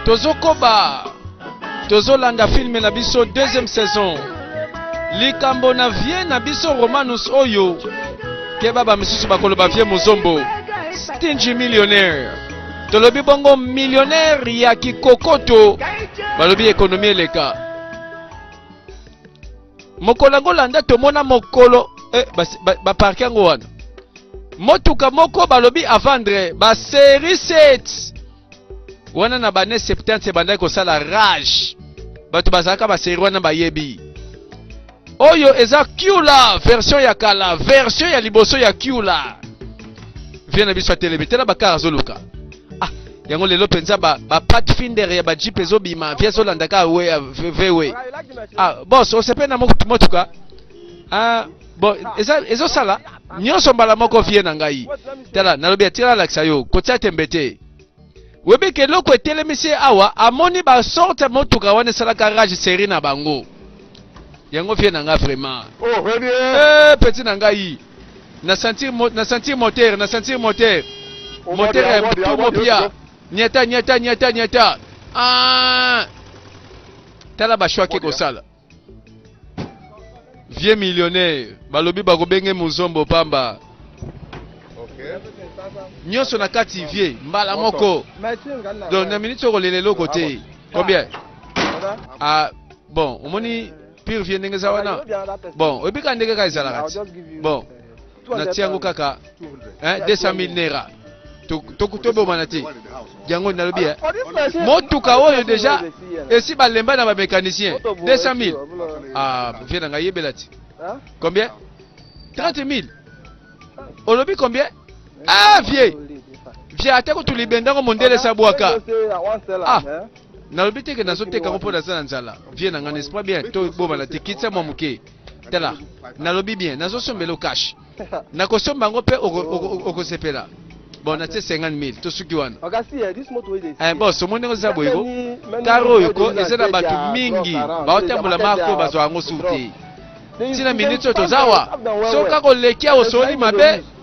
tozokoba tozolanda filme na biso deuxième saison likambo na vie na biso romanus oyo keba bamisusu bakoloba vie mozombo stingy millionnaire tolobi bongo millionnaire ya kikokoto balobi ekonomi eleka mokolo yango landa tomona mokolo eh, baparke yango wana motuka moko balobi avandre baserie 7 wana na bane 70 ebandaki kosala rage bato bazalaka baserie wana bayebi oyo eza kiula version ya kala version ya liboso ya kiula vie na biso atelemi tela bakar azoluka ah yango lelo penza ba, ba pathfinder ya ba jeep ezobima vie ezolanda ka we vewe ah boss osepe na motuka ah bon eza ezosala nyonso mbala moko vie na ngai tala nalobi atira alakisa yo kotia tembe te oyebi ke eloko etelemisi ye awa amoni basorte motuka wana esalaka rage serie na bango yango vie na ngai vraiment oh, eh, peti na ngai na sentir mo, na sentir moteur na sentir moteur moteur ya moto mopia nyata nyata nyata nyata ah tala ba choix ke kosala vieux millionnaire balobi bakobenge muzombo pamba nyonso na kati vieux mbala moko donc na minute okolela eloko te combien ah bon omoni pire vie ndenge eza wana bon oyebi kaka ndenge kaka ezalaka ti bon natia yango kaka 200000 naira tobomana te yango nalobi ye eh. motuka oyo deja esi balemba na bamécanicien 200000 ah, vie na ngai yebela ti combien 30000 olobi combien ah vie vie ata kotulibenda ngo mondele esabwaka ah nalobi te ke nazoteka yango mpo naza na nzala vie na ngai n'est-ce pas bien tobomana te kitisa mwa moke tala nalobi bien nazosombela yo cash nakosomba yango mpe okosepela bon natie 50 000 tosuki wana eh, bos omoni ndenge oza boye ko kare oyo ko eza na bato mingi baotambola mako bazwa yango su te ntina miniti oyo toza wa soki kaka oleki awa osoli mabe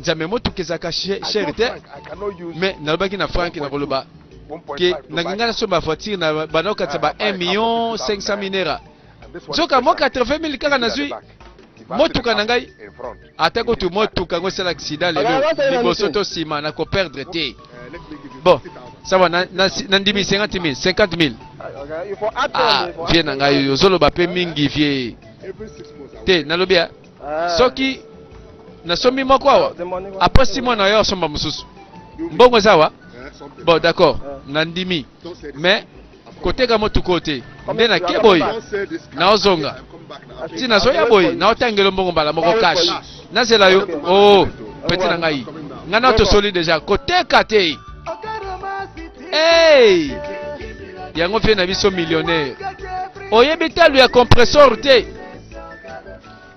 Jambe motuka ezalaka chere te mais nalobaki na frank nakoloba ke nanginga nasomba voiture na banda okatisa ba 1 million 500 minera nzoka mwa 80 mille kaka nazwi motuka na ngai ata kutu motuka yango esala aksida lelo liboso to nsima nakoperdre te bon sawa nandimi 50 mille 50 mille ah, vie na ngai ozoloba mpe mingi vie te nalobi ah. soki nasombi moko awa ah, après six mois na yo asomba mosusu mbongo eza awa eh, bon d'accord eh. nandimi mais koteka motuka oyo te nde nake boye naozonga ti nazoya boye naotangela mbongo mbala moko kashi nazela yo o oh, peti na ngai ngai na tosoli deja koteka te hey! yango mpe na biso millionnaire oyebi talo ya compressor te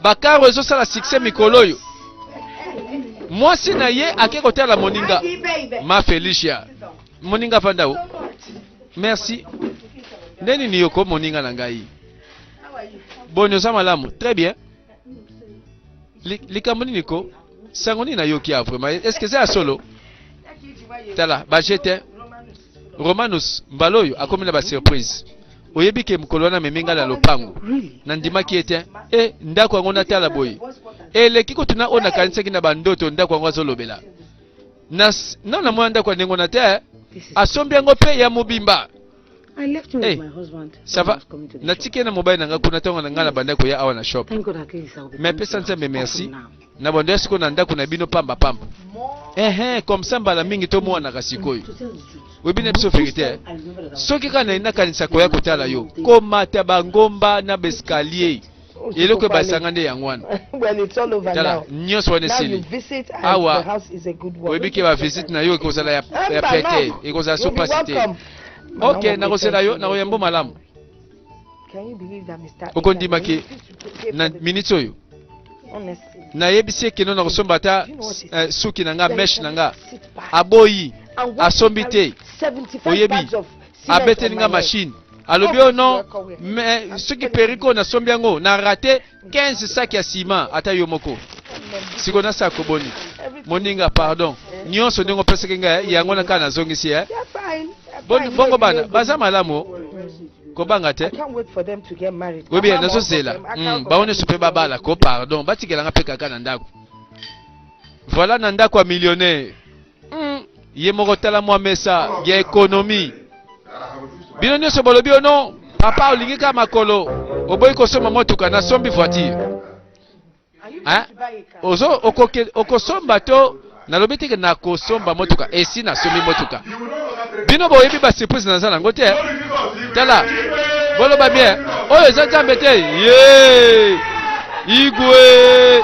bakaro ezosala succès mikolo oyo mwasi na ye ake kotala moninga ma felicia moninga fanda o merci nde nini yoko moninga na ngai boni oza malamu très bien likambo nini ko sango nini nayoki ya vraiment est ce que eza ya solo tala bajete Romanus mbala oyo akomi na ba surprise. Oyebi ke mokolo wana amemi ngai na lopango, nandimaki ye te. E, ndako yango natala boye eleki kutu na oyo nakanisaki na bandoto. Ndako yango azolobela na na na mwa ndako ya ndenge wana te, asombi yango mpe ya mobimba. Hey, eh, ça va natiki ye na mobali na ngai kuna ntango na ngai na bandaki koya awa na shop mais pesa nzambe merci Na bondo ya sikoyo na ndako na bino pamba pamba. Ehe, comme ça mbala mingi to moanaka sikoyo. Webi na biso verite. Eh? Soki kaka na nakanisa koya kotala yo, komata bangomba na bescalier. eloko ebasanga nde yango wana tala nyonso wana esili awa oyebi ke bavisite na yo ekozala ya pete ekozala so mpasi te ok nakosela yo nakoyambo malamu okondima ke na miniti oyo nayebisi ye keno na kosomba ata eh, suki na nga meshe na nga aboyi asombi te oyebi abeteli nga mashine alobi oyo oh, non soki periko nasombi yango na rate 15 sac ya sima ata yo moko siko na sako boni moninga pardon nyonso ndenge opesaki ngai yango na kaka nazongisi eh? bongo bana baza malamu kobanga te oyebi ye nazozela hmm, bango nyonso mpe babala ko pardon batikelanga mpe kaka na ndako voilà na ndako ya millionnaire Hum, ye moko tala mwa mesa ya ekonomi. Bino nyonso bolobi ono, papa olingi kaka makolo, oboyi kosomba motuka, nasombi voiture. Hein? Ozo okoke okosomba to nalobi teke nakosomba motuka, esi nasombi motuka. Bino boyebi ba surprise naza nango te. Tala, boloba bien, oyo eza Nzambe te. Yee! Igwe!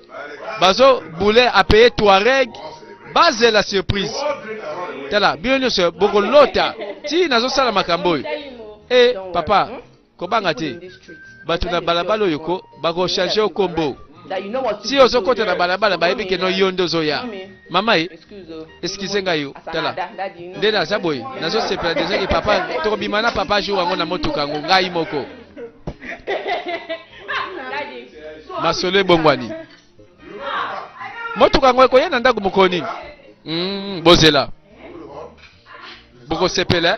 bazo boule apeye tuareg bazela surprise tala bino nyonso bokolota ti nazosala makambo oyo e papa kobanga te bato na balabala oyo ko bakochange yo kombo ti ozokota na balabala bayebi keno yo nde ozoya mama ye eskize ngai yo tala nde naza boye nazosepela dezaki papa tokobima na papa jour yango na motuka yango ngai moko masolo ebongwani motuka yango ekoya na ndako mokolo nini mm, bozela bokosepela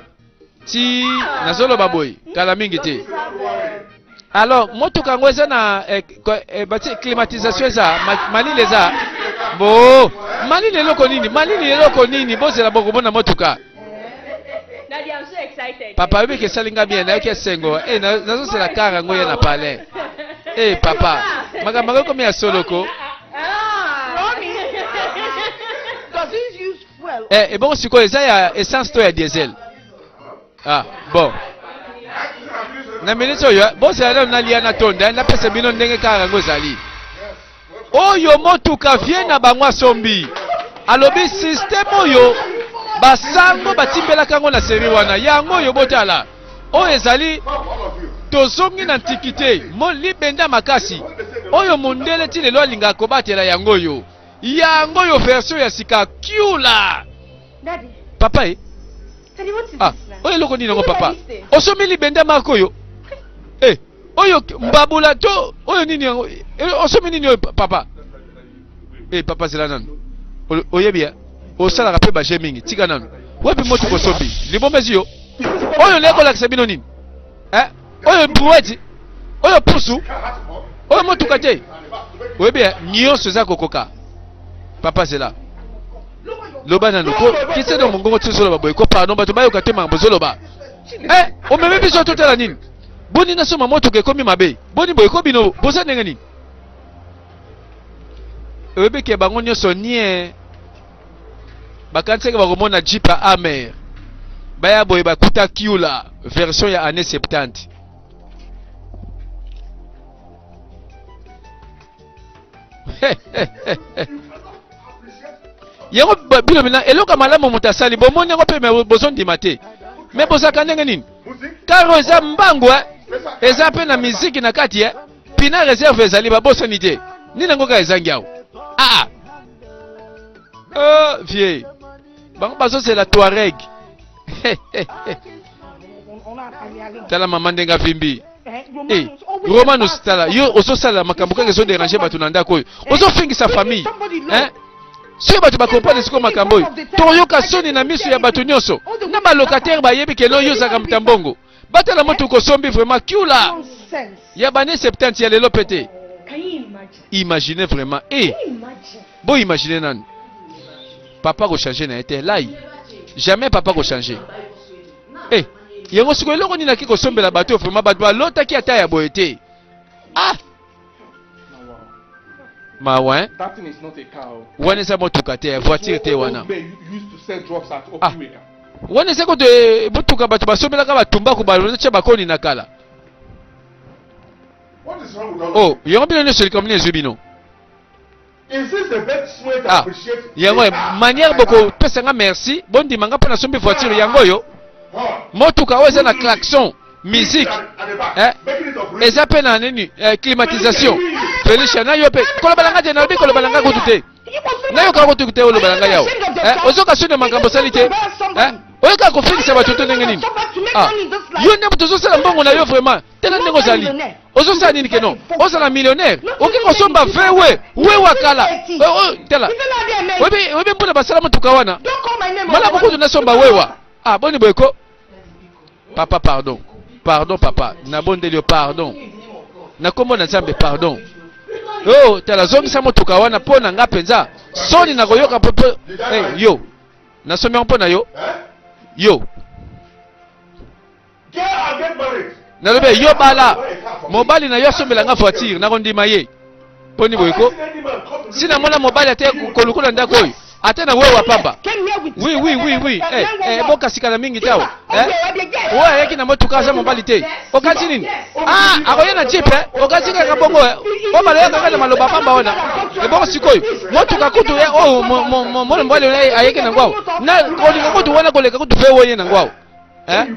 ti nazoloba boye kala mingi te alors motuka yango eza na eh, eh, bati climatisation eza malili eza bo malili eloko nini malili eloko nini bozela bokomona motuka papa oyobi kesali nga bien nayoki esengo e eh, nazosela kar yango ye na palin e eh, papa makambo yango ekomi ya soloko e eh, ebongo sikoyo eza ya essence to ya diesel ah bon na miniti oyo bozela nano nalia natonda napesa bino ndenge kar yango ezali oyo motuka vie na bango asombi alobi systeme oyo basango batimbelaka yango na seri wana yango oyo botala oyo ezali tozongi na ntiki te libenda makasi oyo mondele ti lelo alingaka kobatela yango oyo yango oyo version ya sika kiula papa e ah, oyo eloko nini yango papa osombi libenda marko oyo eh. oyo mbabula to oyo nini yango eh, osomi nini oyo papa e papa zela nanu oyebi ya osalaka mpe baje mingi tika nanu wapi moto kosobi libombezi yo oyo nde ekolakisa bino nini eh? oyo brouette oyo pusu oyo motuka te oyebi ya nyonso eza kokoka papa zela loba nanu po kiseno mongongo tisoloba boye ko pardon bato bayoka te makambo ozoloba eh, omemi biso totala nini boni na soma motuka ekomi mabe boni boye ko bino boza ndenge nini oyebeke bango nyonso nie bakanisaki bakomona jipa amer baya boye bakuta kiula version ya année 70 yango bino bina eloko malamu moto asali bomoni yango mpe bozondima te me bozalaka ndenge nini Karo eza mbangu eh. Eza pe na miziki na kati eh. Pina reserve ezali babosani te. Nini yango kaka ezangi awa? Ah ah. Oh, vieux. Bango bazozela Touareg. Tala mama ndenge avimbi. Eh, eh Romanus tala yo ozosala makambo kaka ezoderange bato na ndako oyo ozofingisa famille. Eh? soki bato bakomprendre sikoyo makambo oyo toyoka soni na miso ya bato nyonso na balocataire bayebi keno yo ozalaka moto ya mbongo batala moto okosombi vraiment kiula ya bane septante ya lelo pete imagine vraiment e eh, boimagine nanu papa kochange na ye te lai jamais papa kochange e eh, yango sikoyo eloko nini aki kosombela bato oyo vraiment bato balotaki ata ya boye te ah mawa hein? wana eza motuka te voiture te wana ah. wana eza koto eh, motuka bato basombelaka batumbaku balonatya bakoni na kala oh yango bino nyonso likambo nini ezwi bino Ah, yango manière bokopesa nga merci bondima nga mpo nasombi voiture yango oyo motuka oyo eza na klaxon musique eh? eza mpe na nini eh, climatisation felicia nayo mpe kolobala nga te nalobi kolobala nga kutu te nayoka kutu te olobala nga yawo eh? ozoka soni makambo osali te eh? oyokaka kofingisa bato to ndenge nini ah, yo nde moto ozosala mbongo na yo vraiment tala ndenge ozali ozosala nini keno ozala millionnaire oke kosomba vin we we wa kala tala oyebi mpona basala motuka wana malamu kutu nasomba wewa ah boni boye ko papa pardon pardon papa nabondeli yo pardon na nkombo na nzambe pardon o oh, tala zongisa motuka wana mpo na nga mpenza soni nakoyoka mpo mpo eh, yo nasomi yango mpo na yo yo nalobi yo bala mobali na yo asombela nga voiture nakondima ye poni boye ko si namona mobali ate kolukola ndako oyo ata na wewa pamba wi wi wi wi eh, eh, bokasikana mingi te awa eh? oyo ayaki na motuka aza mobali te okati nini ah, akoya na jipe eh? okati kaka bongo eh? oyo baloyaka kaka na maloba pamba wana ebongo eh, sikoyo motuka kutu oyo oh, mwana mobali ayaki na ngwawa na kolinga kutu wana koleka kutu vewo ye na ngwawa eh?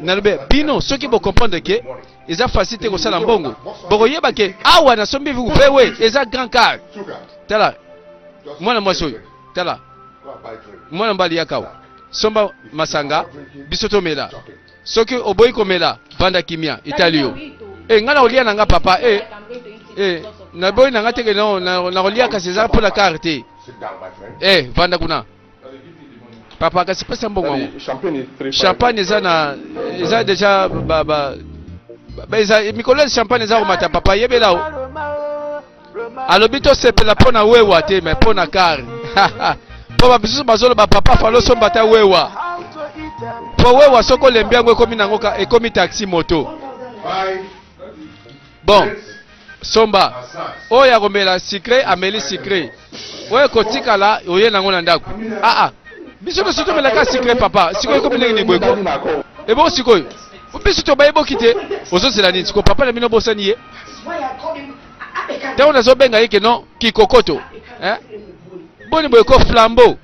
nalobi bino soki bocomprendre ke eza facile te kosala mbongo bokoyeba ke awa na sombi viku mpe we eza grand car tala mwana mwasi oyo tala mwana mbali yaka awa somba masanga biso tomela soki oboyi komela vanda kimia etali yo e ngai nakolia na ngai papa e e naboyi na ngai teke nakolia kasi eza mpo na kar te e vanda kuna papa kasi pesa mbongo yango champagne eza na eza deja ba, ba, ba, eza, mikolo ya champagne eza komata papa yebela o alobi tosepela mpo na wewa te me mpo na kare mpo bamisusu bazoloba papa falo osomba ata wewa mpo wewa soki olembi yango ekomi nango ekomi taxi moto bon somba oyo akomela sikre ameli sikre oyo ekotikala oye nango na ndako aa ah, ah. biso nyonso tomelaka sikre papa sikoyo ekomi ndenge nini boyeko ebongo sikoyo biso tobayeboki te ozozela nini sikoyo papa na bino bosani ye ntango nazobenga ye ke non kikokoto eh? boni boye ko flambeau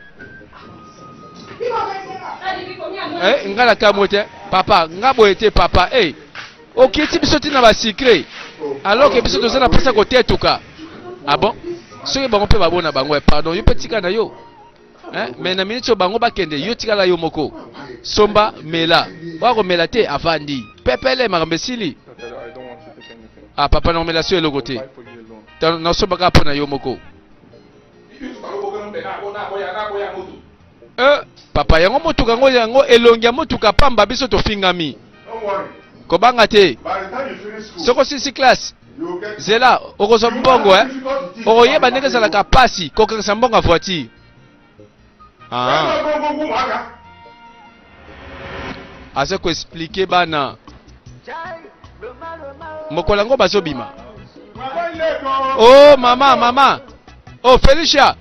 eh, nga nakamwe te papa nga boye te papa hey. Eh. okiti biso ti na ba secret alors que biso toza na posa kotetuka ah bon soki bango mpe babona bango eh, pardon yo mpe tika na yo eh, mais na minute oyo bango bakende yo tikala yo moko somba mela oya komela te avandi pepele makambo esili ah papa na komela so eloko te nasombaka mpo na yo moko Euh, papa yango motuka yango yango elongi ya motuka pamba biso tofingami. Kobanga te. Soki osilisi classe zela okozwa mbongo eh? okoyeba ndenge ezalaka mpasi kokangisa mbongo ya voiture ah. aza koexplike bana mokolo yango bazobima o oh, mama mama o oh, felicia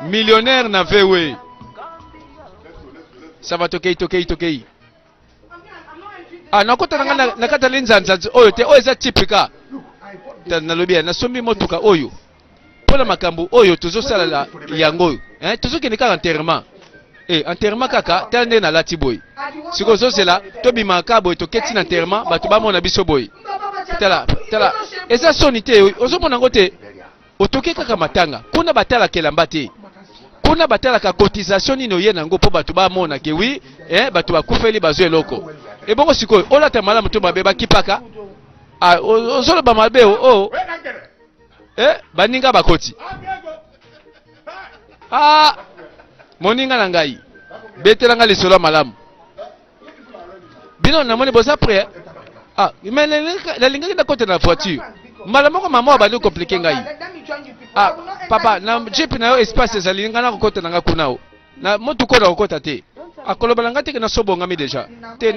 millionnaire na vewe sava tokei tokei tokei ah nakota na ngai nakatali nzanza oyo te oyo eza tipika nalobi ya nasombi motuka oyo mpo na makambo oyo tozosalela yango oyo eh, tozokende kaka enterrement e enterrement kaka tala nde nalati boye sikoyo ozozela tobimaka kaka boye toketi na enterrement bato bamona biso boye tala tala eza soni te ozomona yango te otoke kaka matanga kuna batalaka elamba te kuna batalaka cotisation nini oye na yango mpo bato bamona ke wi eh, bato bakufeli bazwa eloko ebongo sikoyo olata malamu to mabe bakipaka ah, ozoloba mabe o oh, oh. eh baninga bakoti ah moninga na ngai betela ngai lisolo malamu bino namoni boza pre eh? ah mais nalingaki nakota na voiture mbala moko mama oyo abandi komplike ngai ah papa na jeep na yo espace ezali ngai nakokota na ngai kuna o na motuka oyo nakokota te akoloba na ngai teke nasobongami deja te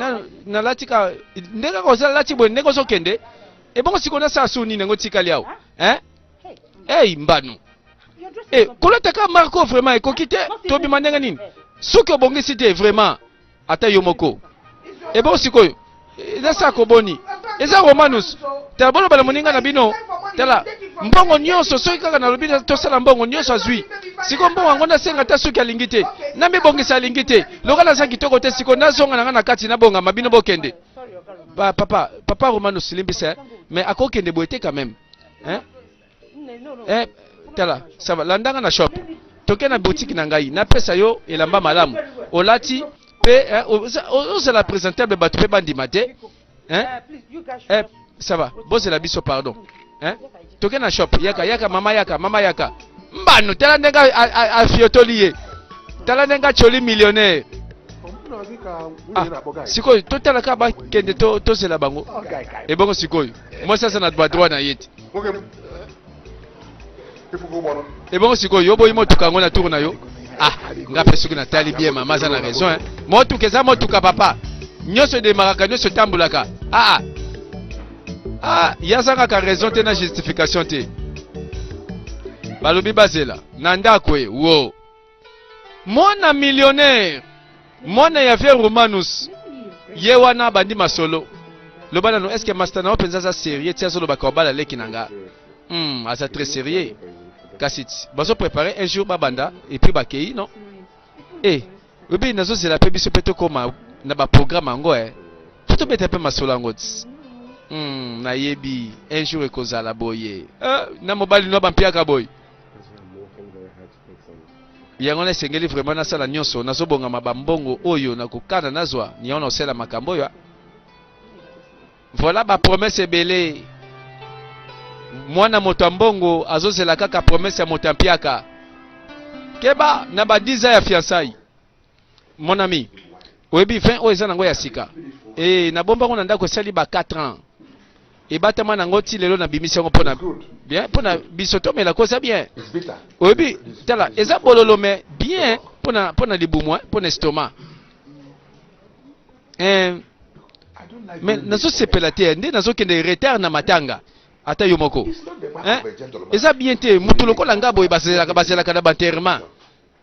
nalati ka ndenge akozala lati boye ndenge ozokende ebongo siko nasala su nini yango etikali awa hein hey mbano e eh, kolata ka marco vraiment ekoki te tobima ndenge nini soki obongisi te vraiment ata yo moko ebongo sikoyo eza sa koboni eza romanus tala bolobala moninga na bino tala mbongo nyonso soki kaka nalobi tosala mbongo nyonso azwi siko mbongo yango nasenga ata soki alingi te namibongisa alingi te lokola aza kitoko te siko nazonga na ngai na kati nabongama bino bokende Ba, papa, papa Romano silimbisa, mais akokende boye te quand même. Hein? Eh, tala, ça va, landanga na shop. Toke na boutique na ngai, na pesa yo elamba malamu. Olati pe hein, ozala presentable bato pe bandima te. Hein? Eh, ça va bozela biso pardon hein toke na shop yaka yaka mama yaka mama yaka mbano tala ndenge afiotoli ye tala ndenge acoli millionnaire ah, sikoyo totala kaka bakende tozela bango ebongo sikoyo mwasi aza na badroit na ye te ebongo sikoyo yo boyi motuka yango na tour na yo ah nga mpe soki natali bien mama aza na raison hein. motuka eza motuka papa nyonso edemaraka nyonso etambolaka aa ah, ah. ah, ye azangaka raison te na justification te balobi bazela na ndako e wo Mwana millionnaire, mwana ya vieux Romanus, ye wana abandi masolo. Loba nanu, est-ce que masta nao penza aza serieux ti azoloba kaobala leki na nga? Hmm, aza très serieux. Kasi ti bazo préparer un jour babanda et puis bakei non? Eh, oyebi nazozela pe biso pe tokoma na ba programme yango eh. Po tobeta pe masolo yango ti. Hmm, nayebi un jour ekozala boye. Eh, na mobali no bampiaka boye. yango wana esengeli vraiment nasala nyonso nazobongama bambongo oyo nakokana nazwa yango wana osala makambo oyo voilà bapromese ebele mwana moto ya mbongo azozela kaka promese ya moto ya mpiaka keba na badiza ya fiansai Mon ami, oyebi vin oyo eza nango ya sika. Eh, na bomba ngo na ndako esali ba 4 ans. Ebatama nango ti lelo na bimisi yango pona bien pona biso tomela koza bien. Oyebi tala eza bololo mais bien pona pona libumu hein, pona estomac. Eh, mais nazo sepela te nde nazo kende retard na matanga. ata yo moko eh? eza bien te motu lokola nga boye bazelaka bazelaka na banterrement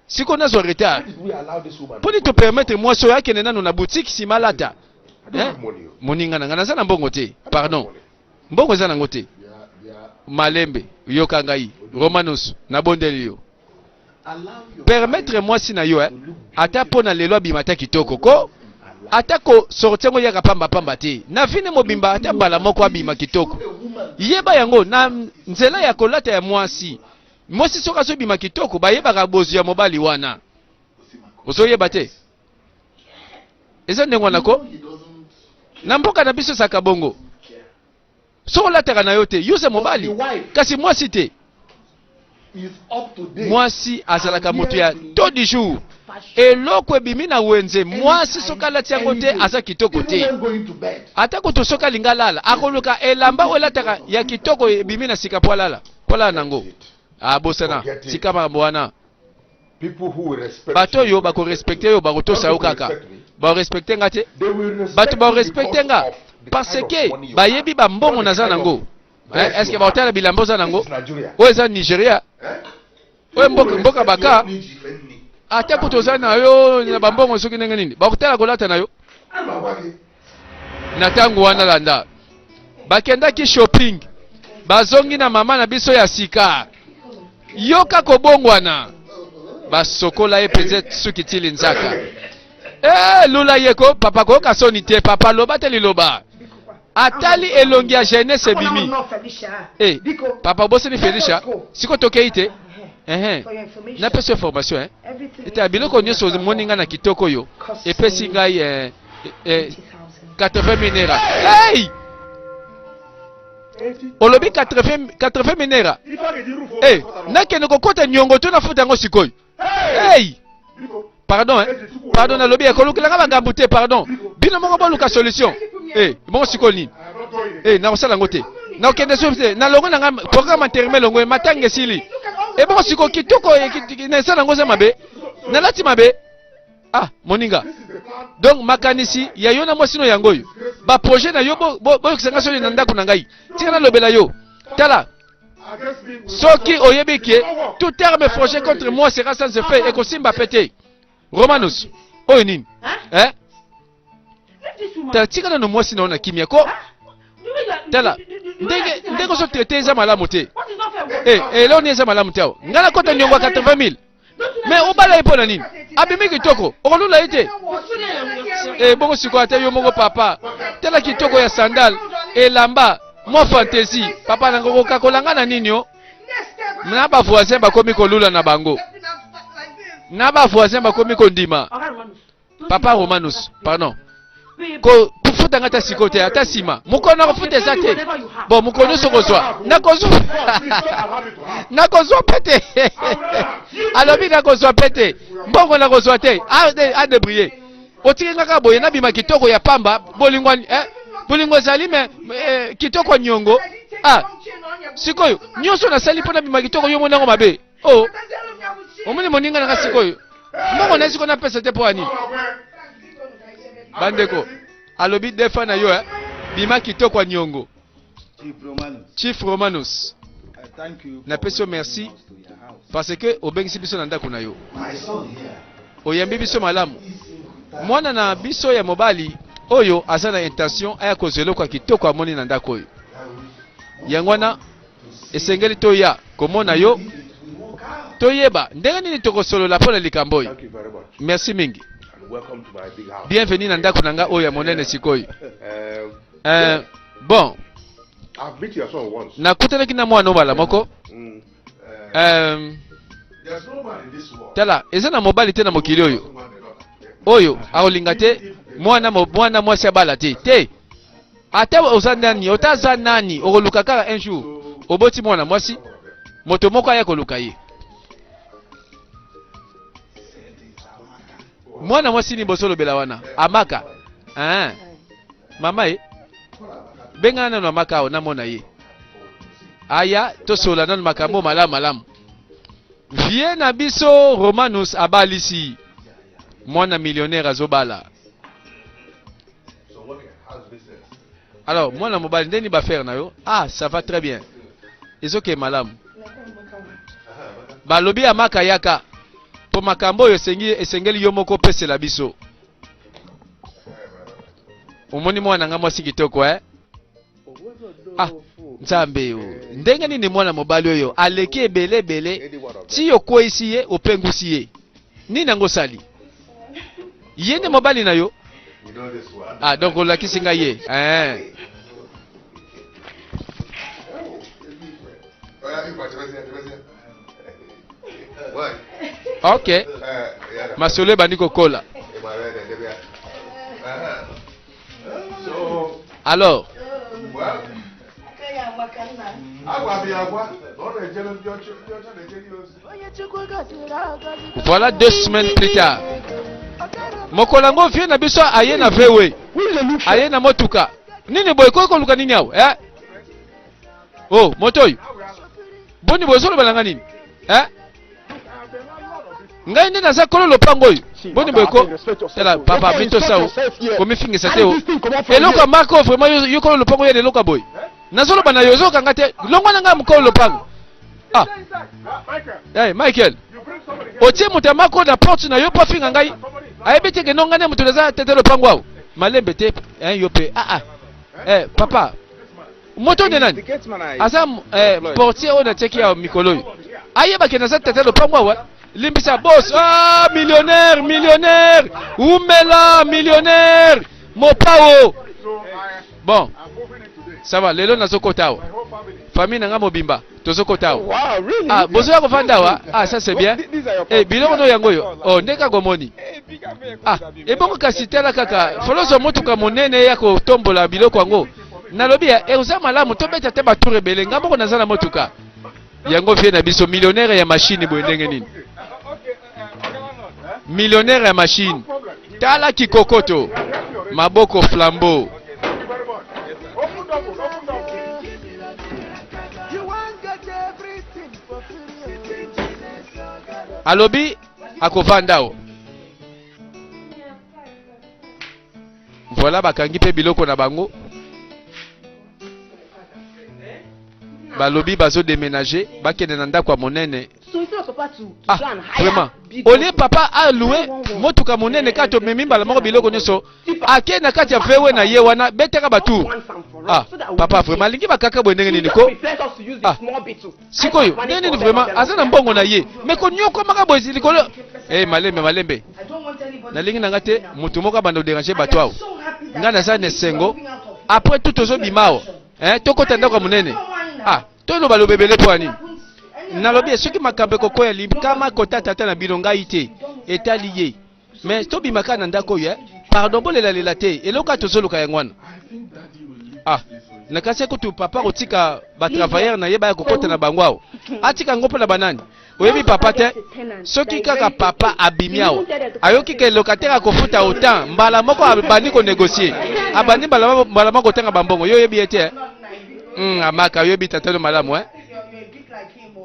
Siko nazo retard. Poni to permettre mwasi oyo akende nanu na boutique sima alata. Hein? Moninga na nga naza na mbongo te. Pardon. Mbongo eza nango te. Malembe, yoka ngai. Romanus, nabondeli yo. Permettre mwasi na yo eh, ata mpo na lelo abima ata kitoko ko ata kosorti yango yaka pambapamba te na vine mobimba ata mbala moko abima kitoko yeba yango na nzela ya kolata ya mwasi Mwasi soki azobima kitoko bayebaka bozwi ya mobali wana. Ozoyeba te? Eza ndenge wana ko? Na mboka na biso ezalaka bongo. Soki olataka na yo te, yo oza mobali, kasi mwasi te. Mwasi azalaka moto ya to du jour. Eloko ebimi na wenze, mwasi soki alati yango te, aza kitoko te. Ata kutu soki alinga lala, akoluka elamba oyo elataka ya kitoko ebimi na sika po alala. kola nango abosana ah, tika makambo wana bato oyo bakorespecte yo bakotosa yo kaka bakorespecte nga te bato bakorespecte nga parce que bayebi bambongo naza nango eh, estce bakotala bilamba oza nango oyo eza nigeria eh? oyo mboka, mboka baka ata kutu oza na yo na bambongo soki ndenge nini bakotala kolata na yo na ntango wana landa bakendaki shopping bazongi na mama na biso ya sika yoka kobongwana basokola ye mpenza suki ti linzaka e eh, lula ye ko papa koyoka soni te papa loba te liloba atali elongi ya jeunesse ebimi eh, papa obosani felisha siko tokei te ehe napesi yo formation eh. eta biloko nyonso omoni ngai na kitoko oyo epesi ngai eh, eh, 80 minera hey! olobi 80 minera hey, eh, nakende kokota niongo to nafuta yango sikoyo hey! pardon eh? pardon nalobi ekolukelanga eh, makambo te pardon bino moko boluka solution eh, bongo sikoyo nini eh, nakosala yango te nakokende soki te nalongo na ngai programme interime elongo matanga esili ebongo sikoyo kitoko nasala yango eza mabe nalati mabe ah moninga donc makanisi ya yo na mwasi no yango oyo baprojet na yo boyokisa ngai soni na ndako na ngai tika nalobela yo tala soki oyebi ke tout terme forgé contre moi sera sans effet ah, ah. ekosimba pe te romanus oyo nini eh? tala tika nano mwasi na yo na kimia ko tala ndenge ndenge ozotraite eza malamu te eh, eloni eza malamu te awa ngai nakota niongo ya 80 000 me obala ye mpo na nini abimi kitoko okolula ye te eh, bongo sikoyo ata yo moko papa tala kitoko ya sandale elamba mwa fantasi papa nango kokakola nga na nini o na bavoisin bakomi kolula na bango na bavoisin bakomi kondima papa romanus pardon kofuta nga ata sikoyo te ata nsima mokolo nakofuta eza te bo mokolo nyonso kozwa nakozwa nakozwa mpe te alobi nakozwa mpe te mbongo nakozwa te adebrie otiki nga kaka boye nabima kitoko ya pamba bolingo eh, bolingo ezali me eh, kitoko nyongo ah sikoyo nyonso nasali mpo nabima kitoko yo moni yango mabe Oh, omoni moninga na nga sikoyo mbongo na ye sikoyo napesa te mpo ya nini bandeko alobi defa na yo eh? bima kitoko ya niongo chief romanus napesi yo merci parce que obengisi biso na ndako na yo oyambi biso malamu mwana na biso ya mobali oyo aza na intention aya kozwa eloko ya kitoko amoni na ndako oyo yango wana Esengeli toya komona yo toyeba ndenge nini tokosolola mpo na likambo oyo. Merci mingi. Bienvenue na ndako na nga oyo ya monene sikoyo. Uh, eh, bon nakutanaki na mwana obala moko mm. um, tala eza na mobali te na mokili oyo oyo akolinga te mwana mwana mwasi abala te te Ata oza nani, ota aza nani, okoluka kaka un jour. Oboti mwana mwasi, moto moko aya koluka ye. Mwana mwasi ni boso lobela wana, amaka. Hein. Mama e, bengana nanu amaka awa, namona ye. Aya, tosola nanu makambo malamu malamu. Vie na biso Romanus abalisi mwana millionnaire azobala. Alors, moi, la mobile, n'est pas faire, nayo. Ah, ça va très bien. Et ok, madame. Bah, lobby à Makayaka. Pour Makambo, et Sengeli Yomoko Pesse la biso. Au moins, moi, n'a pas si kitoko, hein. Ah, nzambe yo ndenge nini mwana mobali oyo aleki ebele ebele ti okweisi ye opengusi ye nini yango osali ye nde mobali na yo ah, donc olakisi ngai ye eh. ok masolo ebandi kokola alors voilà deux semaines plus tard mokolo yango vie na biso aye na vewe aye na motuka nini boye koki koluka nini awa eh? o oh, moto oyo boni boye ozolobela nga nini eh? ngai nde naza kolo lopango oyo boni boye ko tala papa mito sao komifingisa te o eloko ya marke oyo vraiment yo kolo lopango oyede eloko ya boye nazoloba na yo ozoyoka ngai te longwa na ngai mokolo lopango ah hey, michael otie moto ya mako na porte na yo mpo afinga ngai ayebi te keno ngai nde moto naza tete lopango awo malembe te yo mpe aa ah, ah. eh, papa moto nde nani aza eh, portier oyo natiaki ya mikolo oyo ayebake naza tata lopango awa limbisa bos ah, millionnaire millionnaire umela millionnaire mopao bon ça va lelo nazokota awa famille na nga mobimba tozokota awa wow, really? ah, bozoya kofanda awa ah, ça c'est bien hey, eh, biloko no yango oyo oh, nde kaka omoni ah, ebongo kasi tala kaka foloso motuka monene ya kotombola biloko yango nalobi ya eh, oza malamu tobeta te batour ebele nga moko naza na motuka yango vie na biso millionnaire ya mashine boye ndenge nini millionnaire ya mashine tala kikokoto maboko flambeau alobi akovanda o Voilà bakangi mpe biloko na bango. balobi bazo déménager bakende na ndako ya monene ah, vraiment olie papa aloue motuka monene kaka tomemi mbala moko biloko nyonso ake na kati ya vewe na ye wana betaka batu ah papa vraiment alingi bakaka boye ndenge nini ko ah. sikoyo ndenge nini vraiment aza na mbongo na ye me konyokwamaka boye likolo e eh, malembe malembe nalingi na nga te moto moko abanda oderange bato awa ngai naza na esengo apres tout tozobima awa eh, tokota ndako ya monene ah toloba loba ebele mpo ya nini nalobi soki makambo ekokwea likama kotata ata na bino ngai te etali ye mais tobima kaka na ndako oyo eh? pardon bolelalela te eloko kaka tozoluka yango wana ah na kasi kutu papa kotika batravailleur na ye baya kokota na bango awa atika yango mpo na banani oyebi papa te soki kaka papa abimi awa ayoki ke locataire akofuta otan mbala moko abandi konegocie abandi mbala moko kotanga bambongo yo oyebi ye te eh? hmm, amaka oyebi tatano malamu eh?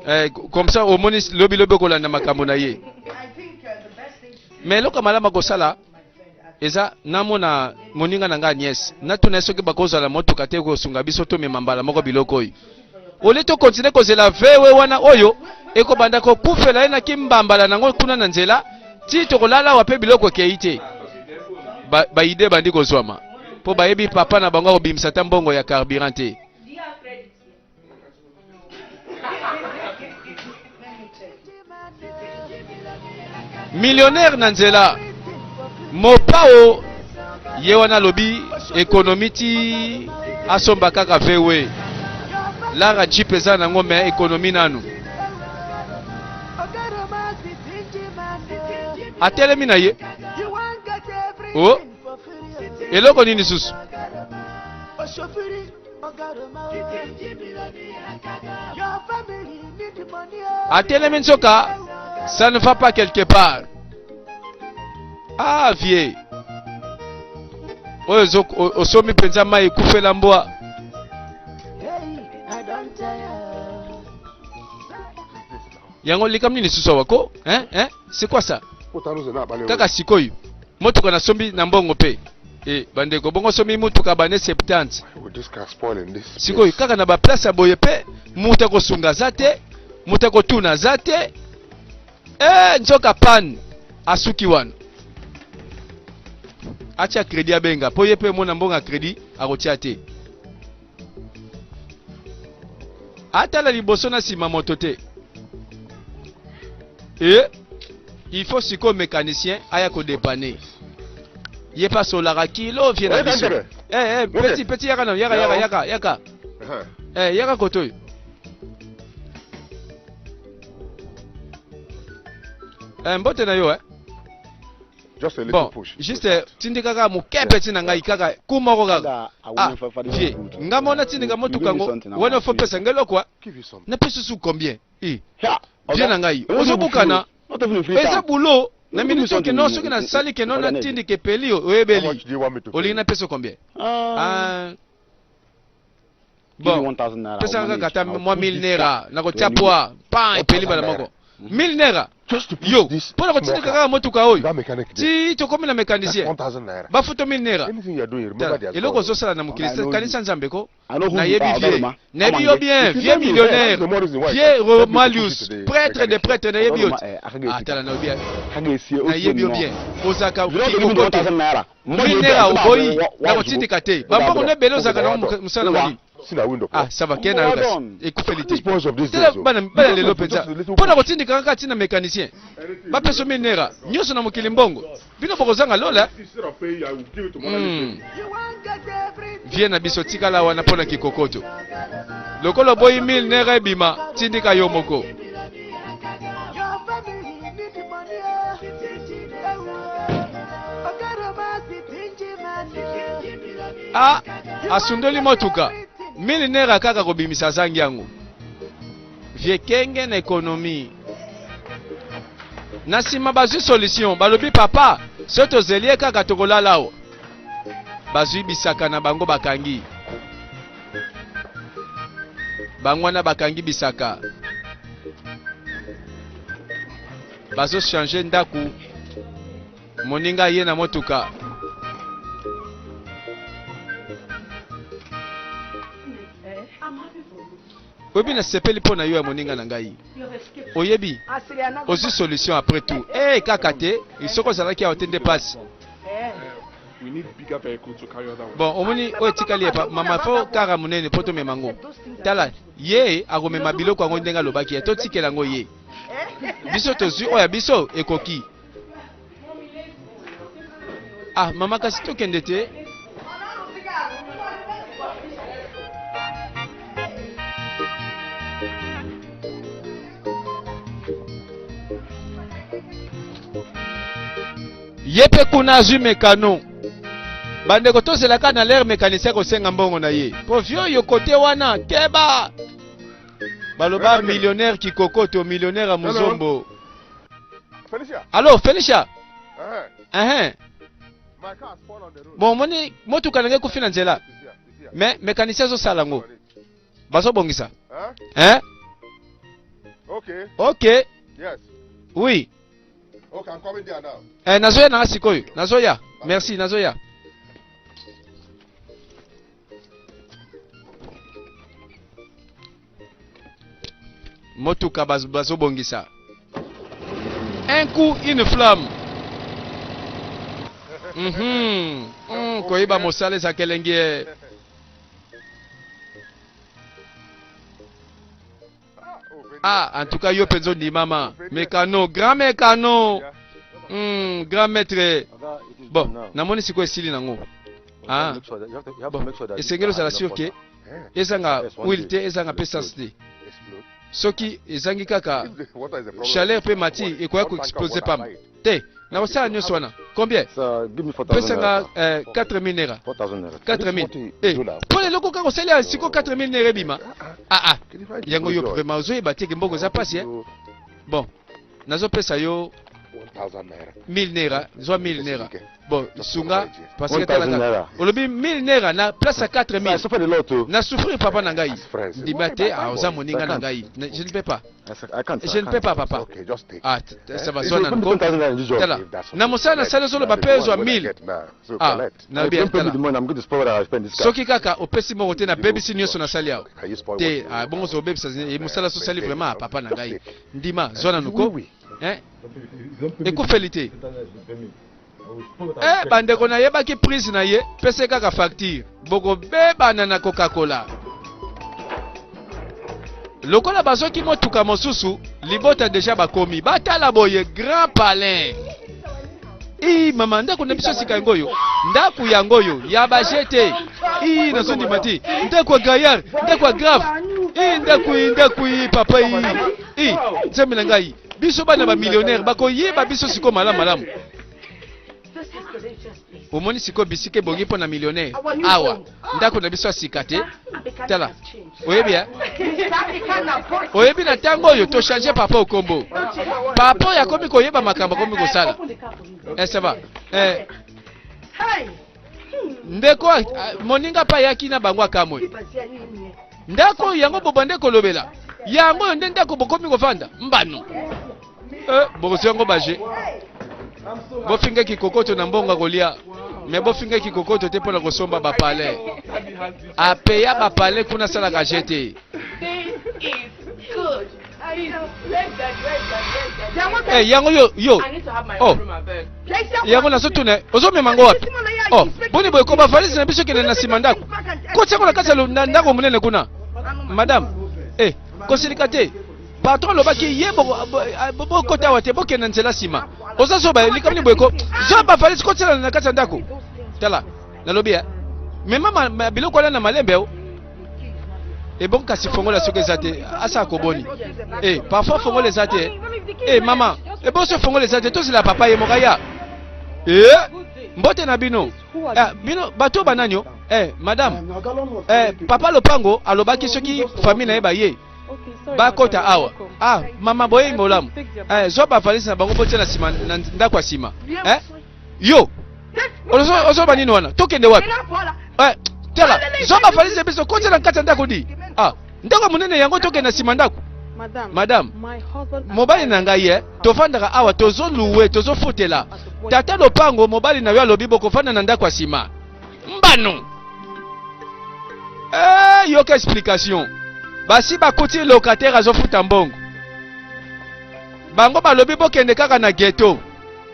eh, comme ça omoni lobi lobi okolanda makambo na ye mais eloko malamu akosala eza namona moninga na ngai niese natuna ye soki bakozala motuka te kosunga biso tomema mbala moko biloko oyo olie tokontinue kozela vewe wana oyo ekobanda kokufela ye na kimbambala nango kuna na nzela ti tokolala wa mpe biloko ekei te baide ba bandi kozwama mpo bayebi papa na bango akobimisa ata mbongo ya carburant te millionnaire na nzela mopao ye wana alobi ekonomi ti asomba kaka vewe lara jipe eza nango me ekonomi nanu atelemi na ye o oh. eloko nini lisusu atelemi nzoka ça ne va pas quelque part ah vieux oyo osombi mpenza mai ekufela mbwa yango likambo nini lisusu awa ko hein hein c'est quoi ça kaka sikoyo motuka nasombi na mbongo mpe e bandeko bongo somi motuka bane 70 sikoyo kaka na baplace ya boye mpe moto akosunga aza te moto akotuna aza te e nzoka pane asuki wana atya kredi abenga mpo ye mpe emona mbongo ya kredi akotia te atala liboso na sima moto te e il faut sikoyo mécanicien aya kodepane ye mpe asolaka kilo vie na biso eh, eh, peti peti yaka nano yaka yaka yaka yaka uh-huh. eh, yaka koto oyo eh, mbote na yo eh? bon juste tindika kaka moke peti na ngai kaka ku moko kaka ah vie nga mona tindika motuka yango wana fo pesa ngai lokwa na pesi su combien i vie na ngai ozobukana eza boulot na minute oke no soki nasali ke no natindi ke peli oyebeli olingi na pesa combien ah, ah. Bon, pesa kaka ata mwa 1000 naira na kotia poa pa epeli mbala moko. 1000 naira yo mpo na kotindika kaka motuka oyo ti tokomi na mécanicien bafuto 1000 naira eloko ozosala na mokili kanisa nzambe ko nayebi vie nayebi yo bien vie millionnaire vie romalius prêtre de prêtre nayebi yo ti atala nayebi yo bien ozalaka Ndenge nela oboyi na kotindika te ba mbongo no ebele ozalaka na ngo musala na ngo nini? Ah ça va ken ayo kasi ekufeli te tela bana bana lelo penza mpo na kotindika kaka tina mécanicien ba peso mi nera nyonso na mokili mbongo bino bokozanga lola hmm. vie na biso tikala wana mpo na kikokoto lokola oboyi mil nera ebima tindika yo moko Your family need money. Ah, asundoli motuka milinera kaka kobimisa azangi yango vie kenge na ekonomi na nsima bazwi solution balobi papa soki tozeli ye kaka tokolala awa bazwi bisaka na bango bakangi bango wana bakangi bisaka bazo change ndako moninga ye na motuka oyebi nasepeli mpo na yo ya moninga na ngai oyebi ozwi solution après tout ee eh, kaka te soki ozalaki awa te nde mpasi We need bigger vehicle to carry other Bon, omoni oyo etikali epa mama fo kara munene po tomema ngo. Tala ye akomema biloko yango ndenge alobaki ye totikela yango ye. Biso tozwi oyo ya biso ekoki. Ah, mama kasi tokende te. ye mpe kuna azwi mekano bandeko tozelaka na lere mécanicien kosenga mbongo na ye mpo vioyo kote wana keba baloba millionnaire kikokoto millionnaire ya mozombo alo felicia ehe bon omoni motuka ndenge ekufi na nzela me mécanicien azosala yango bazobongisa eh? ok oui Okay, I'm coming there now. Eh, nazoya nanga sikoyo. Nazoya. Merci, nazoya. Motuka bazobongisa. Un coup, une flamme. Mhm. Mm, koyeba mosala eza kelenge. Ah, en tout cas, yo penzo ni maman. Mécano, grand mécano. Hmm, grand maître. Bon, na moni siko esili nango. Ah. Bon, esengelo sala sur que ezanga huile te, ezanga pesance te. Soki ezangi kaka chaleur pe mati ekoya ko exploser pamba. te nakosala nyonso wana combien pesa nga 4000 eh, naira 4000 eh, mpo lelo koka kosali ya siko 4000 naira ebima aa ah, ah, ah. yango yo vraimen ozoyeba te ke mbongo eza mpasi eh? bon nazopesa yo 1000 naira zwa 1000 naira bon sunga parce que talaka olobi 1000 naira na place ya 4000 na souffrir papa na ngai ndima te oza moninga na ngai je ne peux pas Je ne peux pas, papa. Okay, just take ah, eh? ça va zona nko. Tala. Na mosala na sala zolo ba peso a 1000. Ah, na bien tala. Soki kaka opesi moko te na baby si nyoso na sali yao. Te, ah bongo zo baby sa e mosala so sali vraiment papa na ngai. Ndima zona nko. Hein? Eko felite. Eh bandeko nayebaki prise na ye pese kaka facture bokobebana na kokakola lokola bazoki motuka mosusu libota deja bakomi batala boye grand palin ii mama ndako na biso sika yango oyo ndako yango oyo ya baje te ii nazondima te ndako ya gaillard ndako ya grave ii ndako ii ndako ii papa ii ii nzambe na ngai biso bana ba millionnaire bakoyeba biso sikoyo malamu malamu omoni sikoyo bisika ebongi mpo na millionnaire awa ndako na biso ya sika te tala oyebi ya oyebi na ntango oyo tochange papa okombo papa oyo akomi koyeba makambo akomi kosala esava eh, eh. ndeko moninga pa yaki na bango akamwe ndako yango bobande kolobela yango oyo nde ndako bokomi kofanda mbano eh, bokozwi yango baje bofingaki kokoto na mbongo akolia me bofingaki kokoto te mpo na kosomba bapale apeya bapale kuna asalaka je te Eh, yango yo yo oh yango nazotuna ozomema yango wapi oh boni boye koba valise na biso kende na nsima ndako koti yango na kati ya ndako monene kuna madame eh kosilika te patron alobaki ye bokota awa te bokenda nzela nsima oza zoba likambo nini boye ko zoba valise kotiela na kati ya ndako tala nalobi ya mema ma, ma, biloko alana malembe o ebongo kasi fongola soki eza te asala koboni e eh, parfois fongola eza te e eh, mama ebongo eh, soki fongola eza te tozela papa ye moka ya e mbote na bino eh, bino bato banani o eh, madame eh, papa lopango alobaki soki famille na ye baye bakota awa ah mama boyei molamu eh, zwa bavalise na bango botia na nsima na ndako ya nsima eh? yo ozoba nini wana tokende wapi eh, tala zoba falise biso kotya na kati ya ndako di ah, ndako monene yango tokende na nsima ndako madame mobali na ngai ye eh, tofandaka awa tozoluwe tozofutela tata lopango mobali na yo alobi bokofanda na ndako ya nsima mbano eh, yoka explication basi bakuti locataire azofuta mbongo bango balobi bokende kaka na ghetto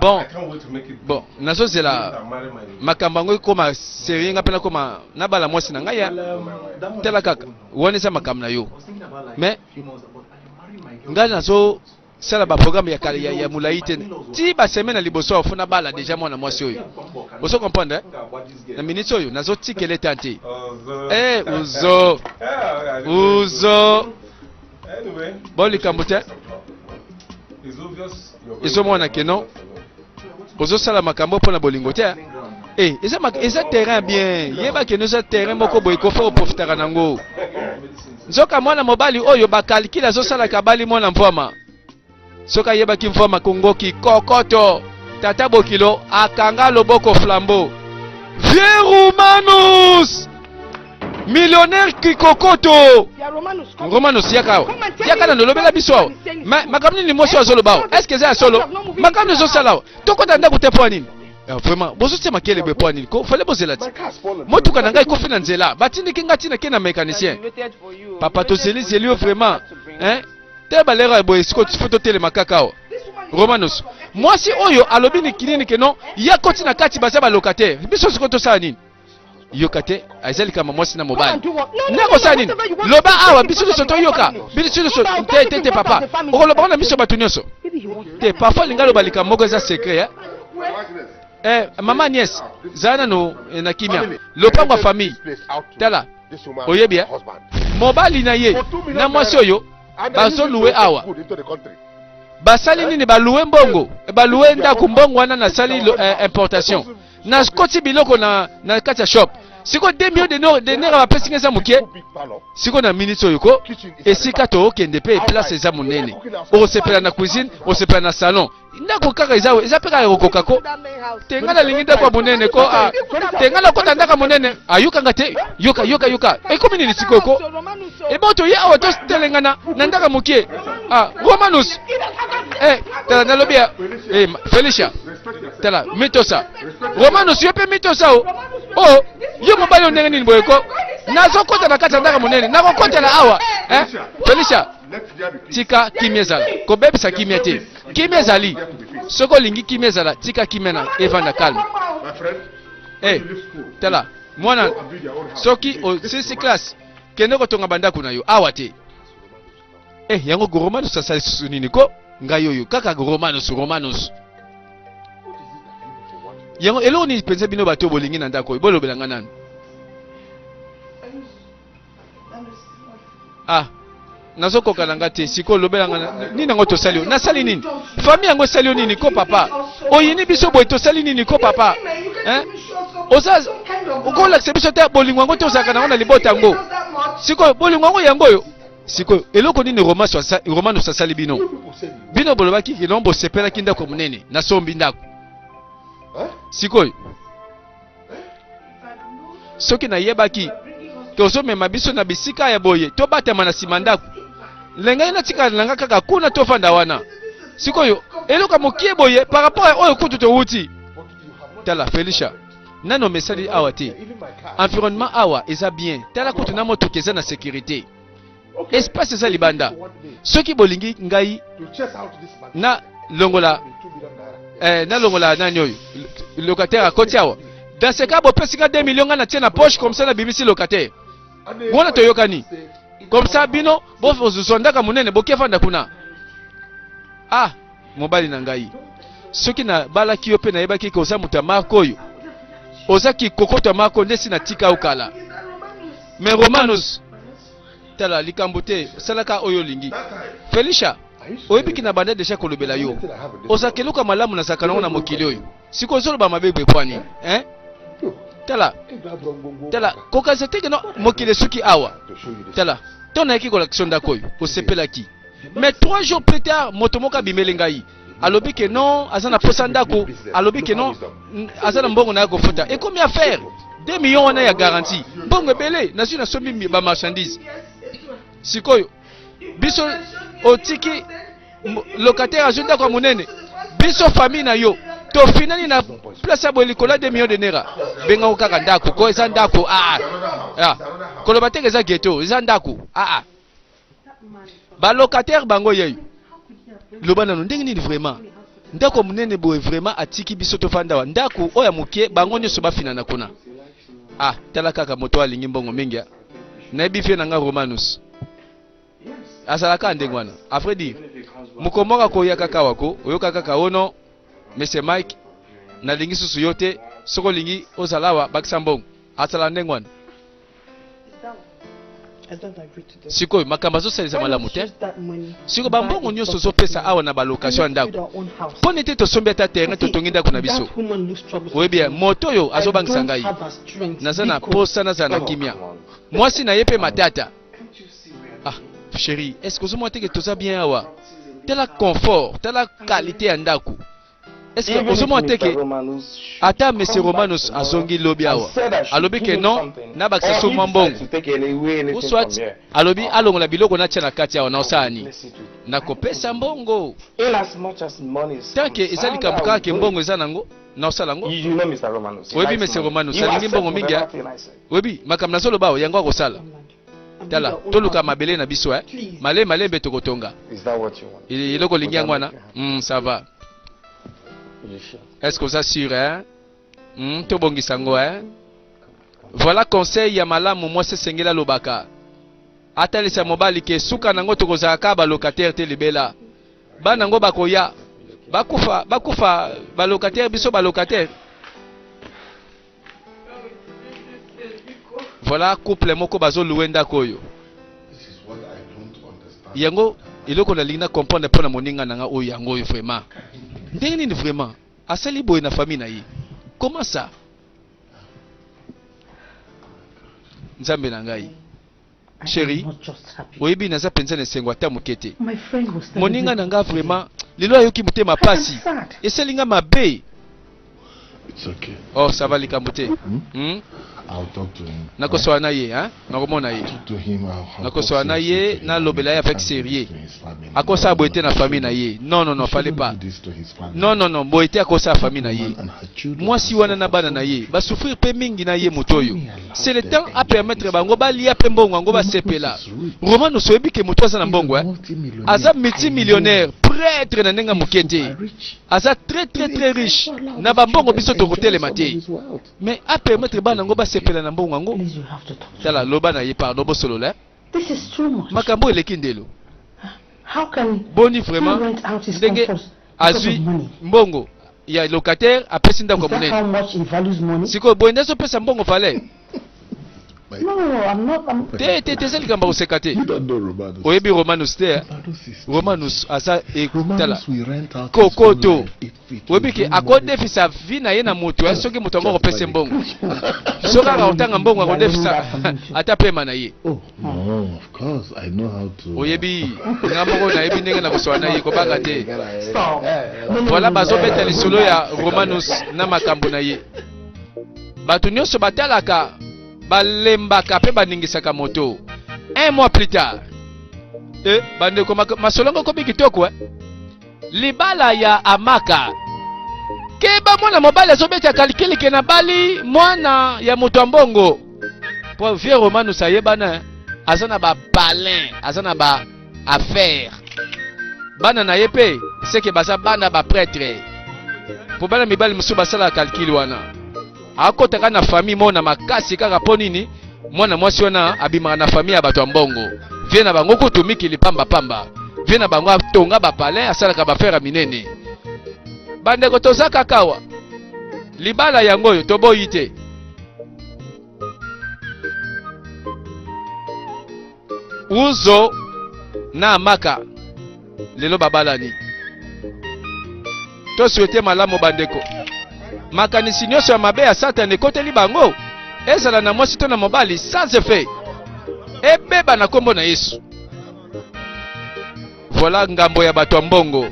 bon bon nazozela makambo yango ekoma serie nga mpe nakoma nabala mwasi na ngai ya tala kaka wana eza makambo na yo mais ngai nazosala baprogramme ya, ya, ya molai te ti basemaine ya liboso afo nabala deja mwana mwasi oyo ozo comprendre na minute oyo nazotikele tan te e uzo uzo bo likambo te ezomona keno ozosala makambo mpo na bolingo te eh? Eh, eza, eza terrain bien yeba keno eza terrain moko boye kofa oprofitaka nango nzoka mwana mobali oyo bakalkile azosalaka bali mwana mvwama soki ayebaki mvua makongoki kokoto tata bokilo akanga loboko flambo vieux romanus millionnaire kikokoto romanus yaka awa yaka na nolobela biso awa makambo nini mwasi oyo azoloba awa est ce que eza ya solo makambo ezosala awa tokota ndako te mpo ya nini Ah, vraiment bozotia makele boye mpo nini ko fale bozela ti motuka na ngai kofi na nzela batindiki ngai ntina ke na mécanicien papa tozelizeli yo vraiment hein te balera boye siko tifo totelema kaka awa romanos mwasi oyo alobi nikinini ke non ye akoti na kati baza balocataire biso siko tosala nini yoka te aza likambo mwasi na mobali nde akosala nini loba awa biso nyonso toyoka biso nyonso te te te papa okoloba ngo na miso bato nyonso te parfois linga loba likambo moko eza secret eh? Eh, mama nièce zala nano eh, na kimia lopango ya famille tala oyebi eh? mobali na ye na mwasi oyo bazoluwe awa basali nini baluwe mbongo eh, baluwe ndako mbongo wana nasali eh, importation nakoti biloko na, na kati ya shop siko 2 million de nord de nera bapesi nga eza moke siko na minute oyo ko esika tookende mpe place eza monene okosepela na cuisine osepela na salon ndako kaka eza eza mpe kaka kokoka ko te ngai nalingi ndako ya monene ko ah, te ngai nakota ndako ya monene ayokanga ah, te yoka yoka yoka ekomi nini sikoyo ko ebo toye awa totelengana na ndako moke ah, romanus eh, tala nalobi ya eh, felicia tala mitosa romanus yo mpe mitosa o o oh, yo mobali yo ndenge nini boye ko nazokota na kati ya ndako monene nakokotela awa eh, felicia tika kimia ezala kobebisa kimia te kimia ezali soki olingi kimia ezala tika kimia na evanda calme hey, eh, tala mwana soki osilisi classe kende kotonga bandako na yo awa te hey, eh, yango goromanus asali susu nini ko ngai oyo kaka romanus romanus yango eloko nini mpenza bino bato oyo bolingi na ndako oyo bolobela ngai nanu ah nazokoka na nga te sikoyo olobela nga nini yango tosali yo nasali nini famille yango esali yo nini ko papa oyini biso boye tosali nini ko papa hein? oza okolakisa biso te bolingo yango te ozalaka nango na libota yango sikoyo bolingo yango yango oyo sikoyo eloko nini romanus asali bino bino bolobaki elongo bosepelaki ndako monene nasombi ndako sikoyo soki nayebaki ke ozomema biso na bisika ya boye tobatama na nsima ndako lengai natikala na nga kaka kuna tofanda wana sikoyo eloko mokie boye par rapport ya oyo kutu towuti tala felicia nano omesali awa te environnement awa eza bien tala kutu na motuka eza na securite espace eza libanda soki bolingi ngai na longola eh, na longola nani oyo locataire akoti awa dans ce cas bopesi nga 2 million nga na tie na poche comme ça nabimisi locataire wana toyokani comme ça bino bozwa ndaka monene bokefanda kuna ah mobali na ngai soki nabalaki yo mpe nayebaki ke oza moto ya marke oyo oza kikokoto ya marke oyo nde si natika yo kala mais romanos tala likambo te salaka oyo olingi felisha oyebiki na banda deja kolobela yo oza keluka malamu na zaka nango na mokili oyo siko ozoloba mabe boye pwani eh? tala tala kokanisa teke no mokili esuki awa tala to nayaki kolakisa ndako oyo osepelaki mais trois jours plus tard moto moko abimeli ngai alobi ke non aza na posa ndako alobi ke non aza na mbongo na ye kofuta ekomi affaire 2 million wana ya garantie mbongo ebele nazwi nasombi bamarchandise sikoyo biso otiki locataire azwi ndako ya monene biso famille na yo tofinani na place ya boye likolo ya 2 million de naira bengango kaka ndako ko eza ndako aa ah, ah. ah, koloba teke eza geto eza ndako aa ba locataire bango yeyo loba nanu ndenge nini vraiment ndako munene boye vraiment atiki biso tofanda wa ndako oyo ya moke bango nyonso bafinana kuna ah tala kaka moto oyo alingi mbongo mingi ah. nayebi fie na nga romanus azalaka ndenge wana a vrai dire mokolo moko akoya kaka wako oyoka kaka ono oh monsieur mike nalingi susu yo te soki olingi ozala awa bakisa mbongo azala ndenge wana sikoyo makambo azosalisa malamu te sikoyo bambongo nyonso ozopesa awa na balokation ya ndako mpo nete tosombi ata terrain totongi ndako na biso oyebi moto oyo azobangisa ngai naza na posa nazala na kimia mwasi na ye mpe matata ah chérie est ce que ozomona teke toza bien awa tala confort tala qualité ya ndako eske ozomona te ke ata monsieur romanus azongi lobi awa alobi ke non nabakisa so mwa mbongo oswat alobi alongola biloko natya na kati awa naosala nini nakopesa mbongo tanke eza likambo kaka ke mbongo eza nango naosala yango oyebi monsieur romanus alingi mbongo mingi oyebi makambo nazoloba awa yango akosala tala toluka mabele na biso eh? male malembe tokotonga eloko olingi yango wana mm, ça va est-ce que oza sur eh? mm, tobongisa yango eh? voilà conseil ya malamu mwasi esengeli alobaka atalisa mobali ke suka nango tokozala ka balocataire te libela bana yango bakoya bakufa bakufa balocataire biso balocataire Voilà couple moko bazo louer ndako oyo. Yango eloko nalingi na comprendre mpo na moninga na nga oyo yango oyo vraiment. Ndenge nini vraiment asali boye na famille na ye? Comment ça? Nzambe na ngai. Cherie, oyebi naza penza na esengo ata moke te. Moninga na nga vraiment lelo ayoki motema pasi. Esali nga mabe. It's okay. Oh, ça va likambo te. Hmm? Hmm? I'll talk to him. Nakosoa na ye, hein? Nakomona ye. Talk to him. Nakosoa na ye, nalobela ye avec sérieux. Akosa boye te na famille na ye. Non non non, fallait pas. Non non non, boye te akosa famille na ye. Mwasi wana na bana na ye, ba souffrir pe mingi na ye moto oyo. c'est le temps a permettre bango balia mpe mbongo yango basepela romano soyebi ke moto aza na mbongo eh? aza multimillionnaire prêtre na ndenge moke te aza très très très riche na bambongo biso tokotelema te mais a permettre bana yango basepela na mbongo yango tala loba na ye pardon bosolola eh? makambo eleki ndelo boni vraiment ndenge azwi mbongo ya locataire apesi ndako ya monene sikoyo boye nde ezopesa mbongo valeur te te te eza likambo ya koseka te oyebi romanus te eh? romanus aza etala eh, kokoto oyebi ke akodefisa vi na ye na moto ya eh? soki moto yango akopesa mbongo soki aka kotanga mbongo akodefisa ata pema na ye oh. Non, of course, I know how to. Oyebi, nga moko nayebi ndenge na koswana ye kobanga te. Voilà bazobeta lisolo ya Romanus na makambo na ye. Bato nyonso batalaka, balembaka mpe baningisaka moto. Un mois plus tard, eh, bandeko masolo ngo komi kitoko eh? Libala ya Amaka. Keba mwana mobali azobeta kalikili ke nabali mwana ya moto ya mbongo. Po vieux Romanus ayebana aza na ba palin, aza na ba affaire. Bana na ye pe seke baza bana ba pretre. Po bana mibali mosusu basala kalikili wana. akota kaka na famille mona makasi kaka mpo nini mwana mwasi wana abimaka na famille ya bato ya mbongo vie na bango kutu mikili pamba pamba vie na bango atonga bapalais asalaka bafere ya minene bandeko toza kakawa libala yango oyo toboyi te Uzo na Amaka lelo babalani. To souhaite malamu bandeko. Makanisi nyonso ya mabe ya Satana ekoteli bango, ezala na mwasi to na mobali, sans effet. Ebeba na kombo na Yesu. Voilà ngambo ya bato ya mbongo.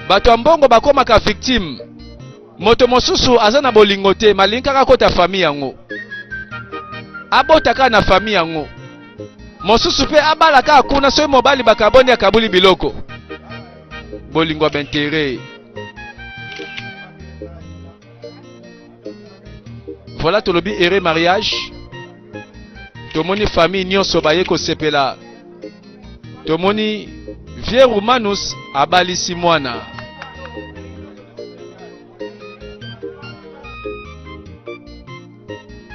Bato ya mbongo bakomaka victime. Moto mosusu aza na bolingo te, malingi kaka akota famille yango, abota kaka na famille yango. Mosusu pe abala kaka kuna, soki mobali bakaboni akabuli biloko, bolingo ya baintere. Voilà tolobi ere mariage tomoni famille nyonso baye kosepela tomoni vieux romanus abalisi mwana